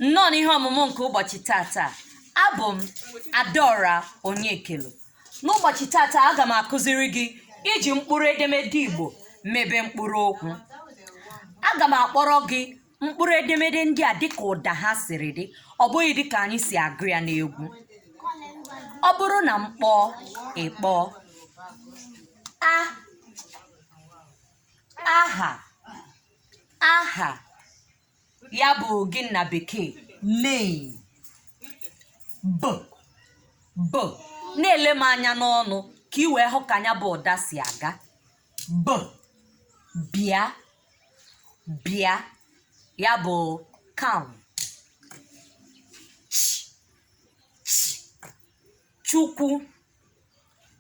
nnọọ n'ihe ọmụmụ nke ụbọchị tata abụ m adaora onyekelu n'ụbọchị tata aga m akụziri gị iji mkpụrụ edemede igbo mebe mkpụrụ okwu aga m akpọrọ gị mkpụrụ edemede ndị a dịka ụda ha siri dị ọ bụghị dịka anyị si agụ ya n'egwu ọ bụrụ na m kpọọ ị kpọọ a aha aha ya bụ gịnị na bekee name b b na-ele m anya n'ọnụ ka ị wee hụ ka nya bụ ụda si aga b bịa bịa ya bụ come chukwu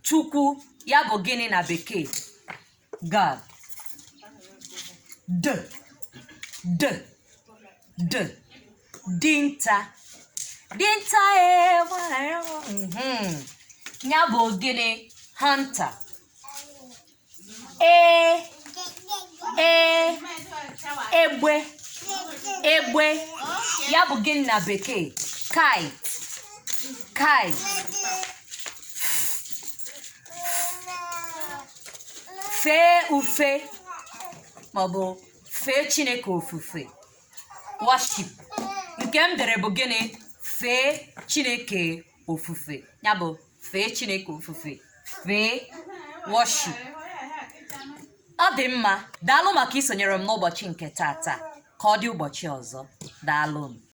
chukwu ya bụ gịnị na bekee god d d d dinta dinta ya bụ gịnị hunter e e egbe egbe ya bụ gịnị na bekee kite kite fee ufe maọbụ fee chineke ofufe worship nke m dere bụ gịnị fee chineke ofufe ya bụ fee chineke ofufe fee worship ọ dị mma daalụ maka isonyere m n'ụbọchị nke tata ka ọ dị ụbọchị ọzọ daalụ m